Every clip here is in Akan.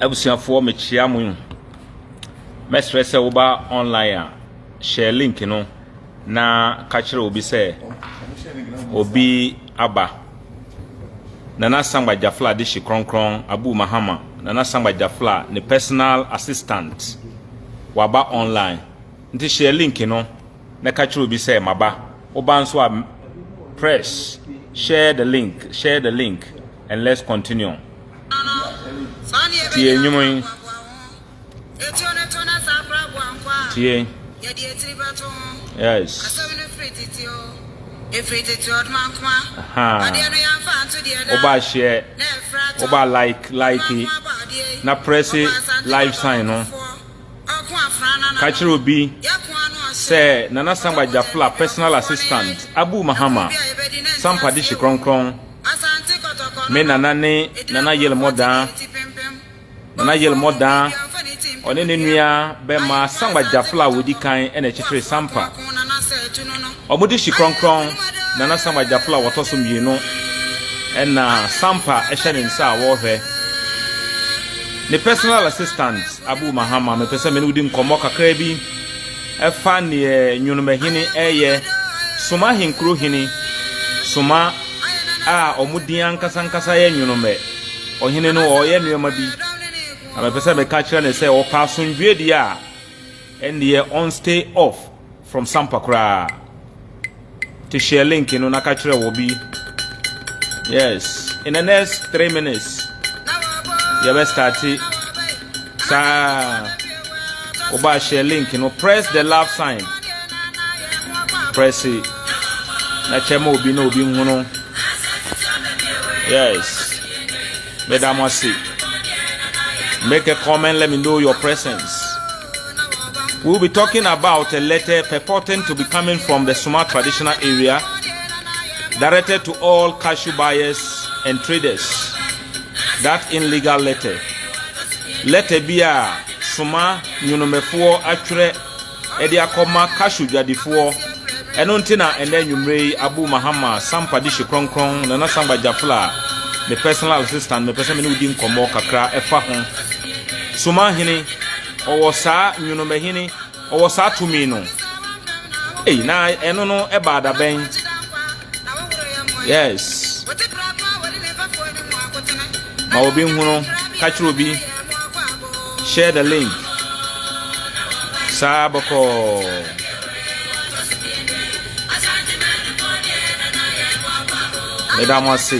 Abusuafoɔ mekyea mo. Mɛsrɛ sɛ woba online a, hyɛ link no na ka kyerɛ obi sɛ obi aba. Nana Sangba Jafla Adehye Kronkron Abu Mahama, Nana Sangba Jafla, ne personal assistant, waba online. Nti hyɛ link no. mɛka kyerɛ obi sɛ maba woba nso a press share the link share the link and let's continue tie nnwom yi tie yes woba share woba like like na press live sign no Ka kyerɛ obi sɛ Nana Sangba Jafla personal assistant Abu Mahama Sampa Dehye Krɔnkrɔn Me Nana ne Nana Yelmɔ Daa Nana Yelmɔ Daa ɔne ne nua bɛma Sangba Jafla a wɔdi kan na ɛkyekyere Sampa. Wɔde hyi Krɔnkrɔn Nana Samuel Gyaflo a wɔtɔ so mmienu na Sampa hyɛ ne nsa a wɔrehwɛ. Ne personal assistant Abu Mahama, mepɛ sɛ me ne wo di nkɔmmɔ kakra bi ɛfa neɛ Nwonomahene ɛyɛ, Soma Ahenkuro Hene, Soma a wɔn din ankasa ankasa yɛ Nwonomɛ. Ɔhene no ɔreyɛ nneɛma bi, na mepɛ sɛ meka kyerɛ ne sɛ ɔpɛ asomdwoeɛ deɛ a, ɛndeɛ ɔnstay off. From sampa koraa to share link no na ka kyerɛ wɔ bi yes in the next three minutes yɛbɛ starte saa wɔba share link no press the love sign press it na kyɛ ma obi na obi nhunu yes meda mo ase make a comment let me know your presence. We'll be talking about a letter purporting to be coming from the Suma traditional area, directed to all cashew buyers and traders. That illegal letter. Letter bi a Suma nyonomefoɔ atwerɛ ɛde akɔma cashew dwadifoɔ. Ɛno nti na ɛnɛ anwummere yi Abu Mahama Sampa de hye kronkron Nana Sampa Jafla, me personal assistant, mepɛ sɛ me ne wodi nkɔmmɔ kakra ɛfa ho. Somahene, ɔwɔ saa nwonomahene, ɔwɔ saa tumi no. Ei, na ɛno no ɛbaa da bɛn? Yes. Ma obi nhunu, ka kyerɛ obi. Share the link. Saa bɔkɔɔ. Meda mo ase.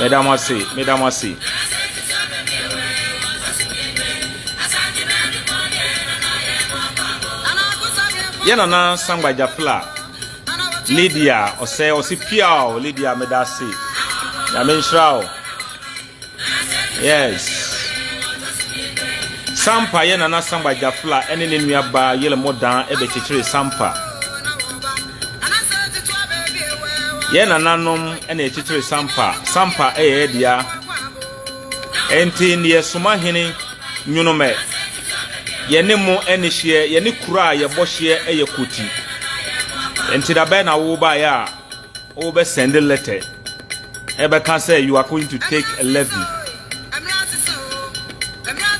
Meda mo ase, meda mo ase. Yɛ nana sangba jafla Lydia ɔsɛ ɔsi piaw Lydia meda ase. Nyame nhyira o. Yes. Sampa yɛ Nana Samba Jafla ne ne nuabaa Yelemo Dan bɛkyekyeree Sampa. Yɛ nananom na ɛkyekyere Sampa. Sampa yɛ yɛ dea. Ɛnti ne yɛ soma hene nwonomɛ. Yɛne mo ne hyeɛ, yɛne kuro a yɛbɔ hyeɛ yɛ koti. Ɛnti da bɛn na wo baeɛ a Wo bɛ send letter ẹ bẹ ka sẹ you are going to take a levy.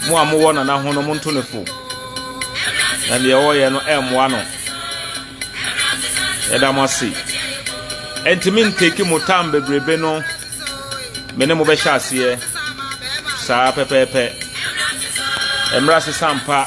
Mo a mo wọ nana ho no mo nto ne fo. Na deɛ ɔwɔ yɛ no ẹ mmoa no. Yẹ da mo ase. Ẹnti mi nteki mo tam bebrebe no me ne mo bẹ hyɛ aseɛ saa pɛpɛɛpɛ. Ẹmrɛ asesa ampa.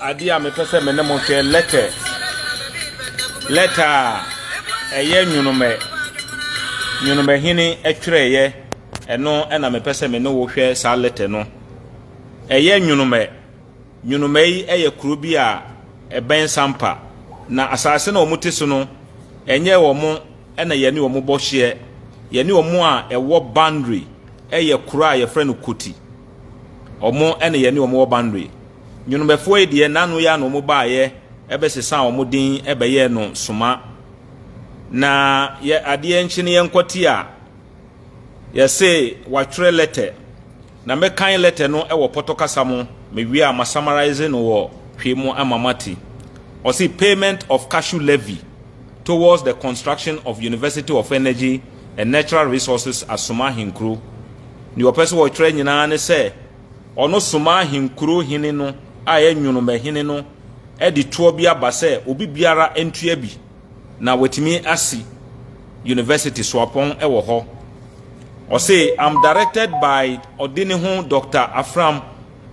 Adeɛ a mepɛ sɛ me ne mo hwɛ lɛtɛ lɛtɛ a ɛyɛ nwonomɛ nwonomɛhene twerɛeɛ ɛno ɛna mepɛ sɛ me ne wo hwɛ saa lɛtɛ no ɛyɛ nwonomɛ nwonomɛ yi ɛyɛ kuro bi a ɛbɛn sampa na asase na wɔn te so no ɛnyɛ wɔn ɛna yɛne wɔn bɔ hyeɛ yɛne wɔn a ɛwɔ boundary ɛyɛ kuro a yɛfrɛ no koti wɔn ɛna yɛne wɔn wɔ boundary Nwonomɛfoɔ yi deɛ, n'ano yi ara na wɔbaeɛ bɛsesaa wɔn din bɛyɛɛ no soma. Na yɛ adeɛ nkye no yɛnkɔ ti a, yɛse wɔatwerɛ lɛtɛ, na mɛkan lɛtɛ no wɔ pɔtɔ kasa mu, mewie a masamarise no wɔ Twi mu ama moate. Ɔse payment of cashew levy towards the construction of University of Energy and Natural Resources Asoma Ahenkuro. Deɛ ɔpɛ sɛ ɔtwerɛ nyinaa ne sɛ Ɔno somaa ahenkurow hene no a ɛyɛ nwonomahene no de toɔ bi aba sɛ obi biara ntua bi na watumi asi University suapɔn wɔ hɔ. Ɔse, I'm directed by ɔde ne ho Doctor Afram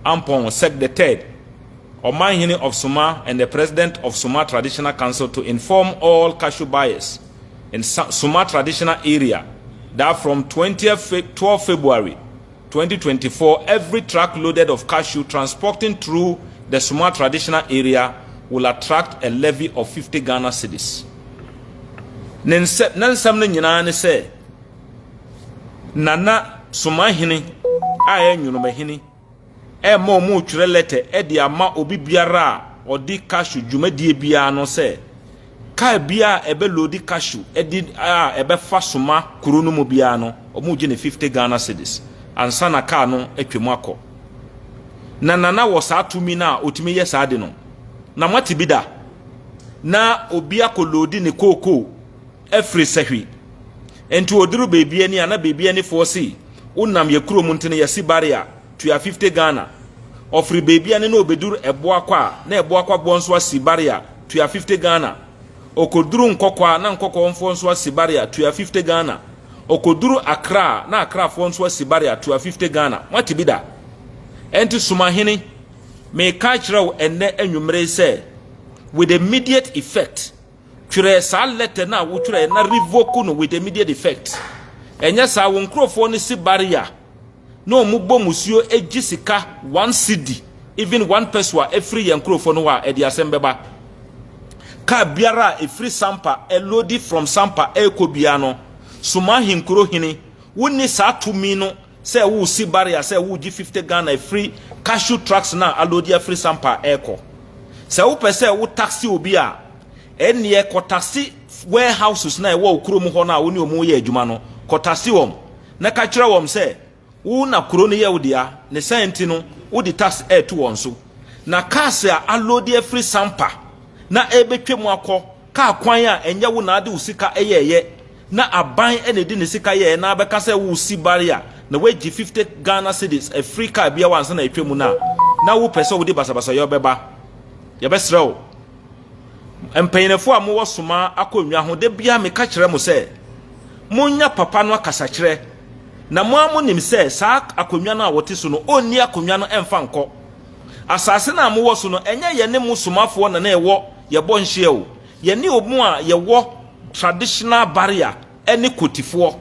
Ampong Sek the Third, Ɔmanhene of Soma and the President of Soma Traditional Council to inform all cashew buyers in Soma Traditional Area that from twentieth Feb twelve February twenty twenty four every truck loaded of cashew transporting through the Soma traditional area will attract a levy of fifty Ghana cedis. Ne nsɛ na nsɛm no nyinaa ne sɛ nana Soma hene a ɛyɛ nwonoma hene ɛma wɔn retwerɛ lɛtɛ de ama obi biara a ɔde cashew dwumadie biara no sɛ Car biara a ɛbɛ load cashew de a ɛbɛfa soma kuro no mu biara no, wɔn gye no fifty Ghana cedis ansa na car no atwa mu akɔ. Na Nana wɔ saa tumi no a ɔtumi yɛ saa de no. Na moate bi da? Na obi akɔ load ne kookoo afiri sahwi. Nti ɔduru baabi ani a na baabi anifoɔ se wonam yɛ kurom nti no yɛse barrier. tua fifty Ghana, ɔfiri baabi a ne na ɔbɛduru Ɛboakwa a na Ɛboakwaboɔ nso asi bare a, tua fifty Ghana, ɔkɔduru Nkɔkɔɔ a na Nkɔkɔɔfoɔ nso asi bare a, tua fifty Ghana, ɔkɔduru Accra a na Accrafoɔ nso asi bare a, tua fifty Ghana. Moate bi da? Ɛnti Sumahene, meka akyerɛ wo ɛnnɛ anwummere yi sɛ, with immediate effect, Twerɛ saa lɛtɛ no a wo twerɛɛ na revoke no with immediate effect. Ɛnyɛ saa wo nkorɔfoɔ no si barrier na ɔmo bɔ musuo gye sika one cedi even one peso a ɛfiri yɛn nkorɔfoɔ no hɔ a ɛde asɛm bɛba. Car biara a ɛfiri Sampa ɛloadi from Sampa ɛrekɔ biara no soma ahenkuro hene wonni saa tumi no Sɛ woresi barrier sɛ woregye fifty Ghana afiri cashew trucks no a aloadi afiri Sampa rekɔ. Sɛ wopɛ sɛ wo taxe obi a, ɛnneɛ kɔ taxe warehouses no a ɛwɔ wo kurom hɔ no a wo ne wɔn reyɛ adwuma no, kɔ taxe wɔn na ka kyerɛ wɔn sɛ wo na kuro no yɛ wo dea, ne sɛn nti no wode tax reto wɔn so. Na cars a aloadi afiri Sampa na ɛrebɛtwam akɔ kaa kwan a ɛnyɛ wo na ade wo sika yɛeɛ, Na aban na ɛdi ne sika yɛɛ na bɛka sɛ wo si bare a na woagye fifty Ghana cedis afiri car biara hɔ ansa na atwa mu no a na wo pɛ sɛ wode basabasayɔ bɛba. Yɛbɛsrɛ wo mpanyinfoɔ a mo wɔ soma akonnwa ho da biara me ka kyerɛ mo sɛ mo nya papa no akasakyerɛ na mo ara mo nim sɛ saa akonnwa no a wɔte so no ɔnni akonnwa no ɛmfa nkɔ asase no a mo wɔ so no ɛnyɛ yɛne mo somafoɔ na na ɛwɔ yɛbɔ nhyeɛ o Yɛne wɔn a yɛwɔ traditional barrier ne Kotifoɔ.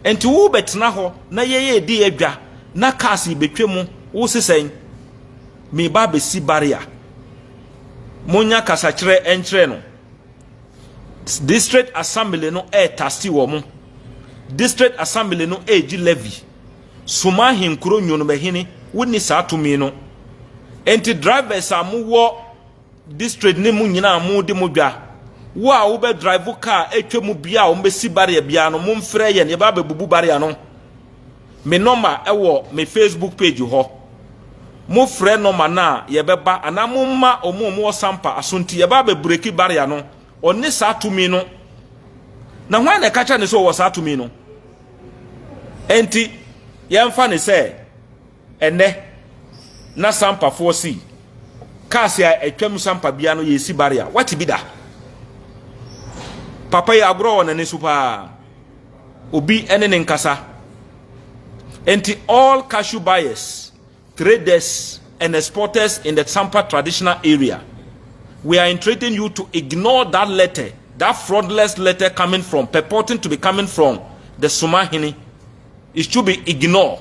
Nti wo bɛtena hɔ na yɛn yɛredi adwa na cars rebɛtwa mu, wo se sɛn? Mereba abɛsi barrier. Monnya kasakyerɛ nkyerɛ no. District Assembly no retase wɔn. District Assembly no regye levy. Soma ahenkuro nwonomahini wonni saa tumi no. Nti drivers a mowɔ. District no mu nyinaa modi mo dwa. Wo a wobɛ drive car atwa mu biara a wɔbɛsi barrier biara no, momfrɛ yɛn, yɛba abɛbubu barrier no. Me nɔma wɔ me Facebook page hɔ. Mofrɛ nɔma no a, yɛbɛba anaa momma wɔn a wɔwɔ Sampa Asonti, yɛba abɛbreki barrier no. Ɔne saa tumi no. Na hwan na ɛka kyerɛ no sɛ ɔwɔ saa tumi no? Enti, yɛmfa no sɛ. Ɛnnɛ, na sampafoɔ sei cars a atwam sampa bia no yɛsi barrier wate bi da papa yi agorɔ wɔ n'ani so paa obi ne ne nkasa nti all cashew buyers traders and exporters in the sampa traditional area we are entreating you to ignore that letter that fraudulent letter coming from purporting to be coming from the sumahini it should be ignored